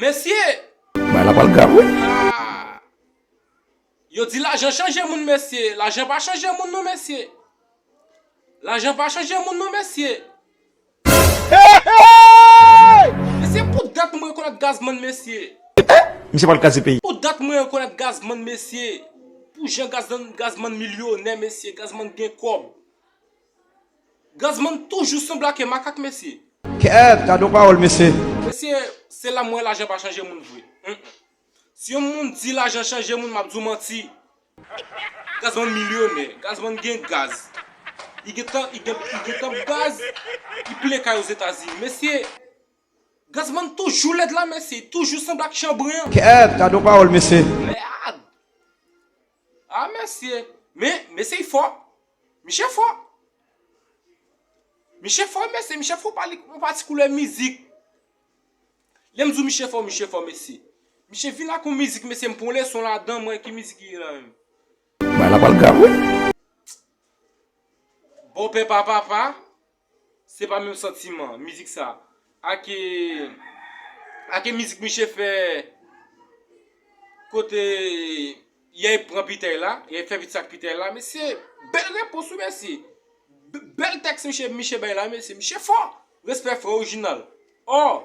Mesye! Bagay la pral grav wi. Aah! Yo di lajan chanje moun mesye, lajan pa chanje moun non mesye. Lajan pa chanje moun non mesye. Mesye pou dat m rekonèt Gazman mesye. Misye pral kraze peyi. Pou dat m rekonèt Gazman mesye. Pou jan Gazman milyonè mesye, Gazman gen kòb. Gazzman toujou sanble ake makak mesye. Kèèt gad yon pawòl mesye. Mesye se la m wè lajan pa chanje moun vre humm si yon moun di lajan chanje moun map di w manti Gazzman milyonè Gazzman gen gaz li gentan li gentan ap gaz li plen kay ozetazini mesye Gazzman toujou lèd la mesye toujou sanble ak chanbren. Kèèt gad yon pawòl mesye. Mèèàd! Ah mesye men mesye y fò Miche fò Miche fò mesye Miche fò pa li yon pati koulè mizik Lèm di w Miche fò Miche fò mesye Miche vin ak yon mizik mesye m pran yon leson ladan mwen ki mizik li ye la menm Bagay la pral grav wi. Bòpè pa papa, Se pa menm santiman mizik sa ak ak mizik miche fè kote yay pran pitèy la, yay fè vit sa ak pitèy la mesye bèl repons wi mesye bèl tèks miche bay la mesye, miche fò respè frè orijinal aww.